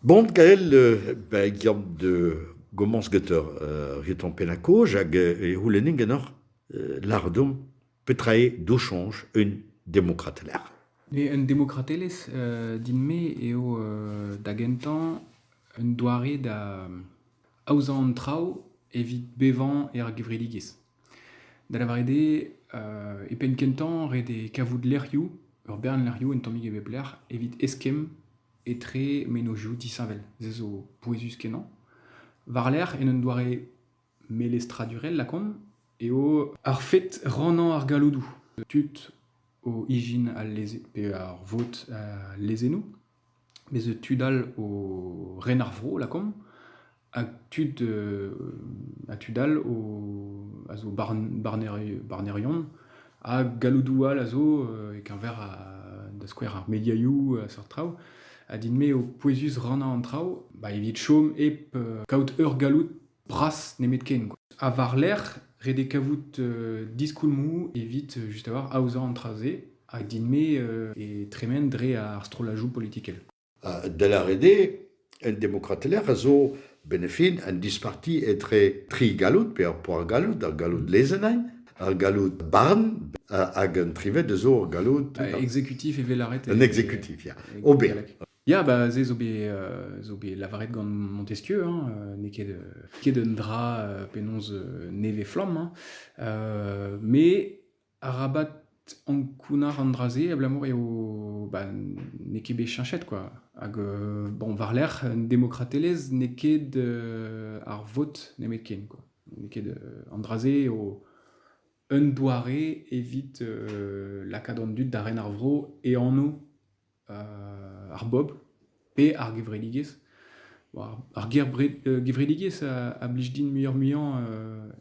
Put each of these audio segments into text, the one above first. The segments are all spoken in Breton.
Bon gael ben giamp da gomañs get ur retorn pennañ-kaoz hag e c'houlennin ganeoc'h lâret deomp petra eo do soñj un demokratelezh. Un demokratelezh din-me eo da gentañ un doare da aozañ an traoù evit bevañ er gevredigezh. Da lavaret eo, e penn-kentañ, ret eo kavout lec'hioù, ur bern lec'hioù un tammig e bep lec'h evit eskemm etre mennozhioù disheñvel. Se zo pouezus-kenañ. War-lerc'h, en un doare melestradurel lakaomp, eo ar fed rannañ ar galloudoù, tud o ijin al leze pe ar vot al lezennoù. Mes tud all o ren ar vro lakaomp, ha tud ha tud all a zo barnerion, ha galloudoù all a zo e-keñver da skouer ar mediaioù ha seurt traoù. Ha din-me eo pouezus rannañ an traoù, bah evit chom hep kaout ur galloud. Bras nemetken. Ha war-lerc'h, ret eo kavout diskoulmoù evit just avoir aozañ an traoù-se hag din-me e tremen dre ar strollajoù politikel. Da lâret eo, el demokratelezh a zo benefit un disparti etre tri galloud pe ur poar-galloud, ar galloud lezennañ, ar galloud barn hag un trived a zo ur galloud... Un exécutif evel ar... Un exécutif, ya. Ober. Ya, bah, ze zo bet, heu, zo bet lavaret gant Montesquieu, hein, heu, n'eo ket, heu, ket un dra, heu, penaos, heu, nevez-flamm, hein. Heu, mais arabat ankounac'h an dra-se abalamour eo, bah, n'eo ket bet cheñchet, quoi. Hag, heu, bon, war-lerc'h, demokratelezh n'eo ket, heu, ar vot nemetken, quoi. N'eo ket, heu, an dra-se eo un doare evit, heu, lakaat an dud da ren ar vro e anv ar bob pe ar gevredigezh. Ar gevredigezh a blij din muioc'h-muiañ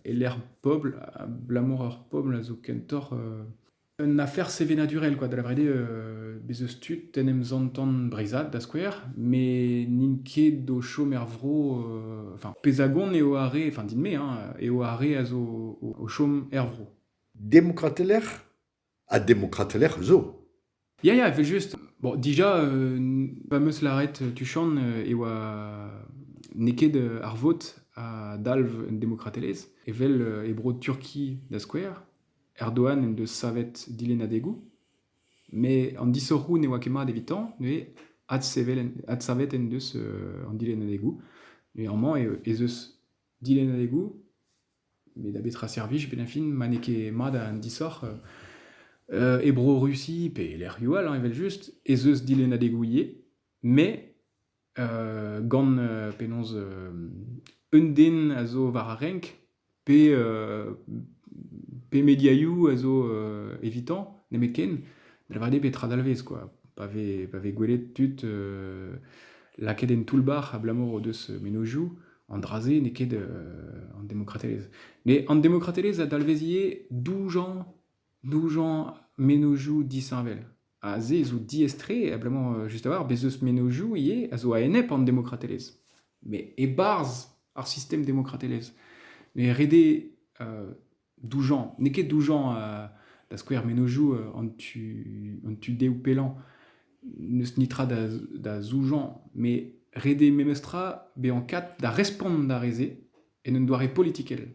e-lec'h pobl, abalamour ur pobl a zo kentoc'h un afer sevenadurel kwa, da lavaret bez' eus tud en em santan breizhat da skouer, met n'int ket o chom er vro, enfin Pezagon eo ar re, enfin din-me hein, eo ar re a zo o chom er vro. Demokratelezh? Ha demokratel ec'h eus zo. Ya, ya, evel-just. Bon, déjà, euh, fameuse larrette tu chantes e oa neket ar vot a dalv un demokratelezh, evel e bro Turki da skouer. Erdogan en deus savet dilennadegoù, mais an disoc'hoù ne oa ket mat evitañ, neuze adsavet en deus an dilennadegoù. Néanmoins, ez eus dilennadegoù Met da betra servij pe neñfin ma n'eo ket mat an disoc'h e Bro-Rusi pe e lec'hioù all evel-just ez eus dilennadegoù ivez met gant penaos un den a zo war ar renk pe pe mediaioù a zo evitañ nemetken da lavaret eo bet tra dalvez kwa pa vez pa vez gwelet tud lakaet en toull-bac'h abalamour o deus mennozhioù An dra-se n'eo ket an demokratelezh. Mais an demokratelezh a dalvezie doujañ, doujañ menozioù disheñvel. Ha se zo diaes-tre, abalamour just a-walc'h, bez' eus menozioù ivez a zo a-enep an demokratelezh. Mais e-barzh ar sistem demokratelezh. Mais ret eo doujañ. N'eo ket doujañ euh, da skouer mennozhioù euh, an tu, an tu dehoù pellañ n'eus nitra da, da zoujañ, mais rede memestra bezañ kat da respont d'ar re-se en un doare politikel.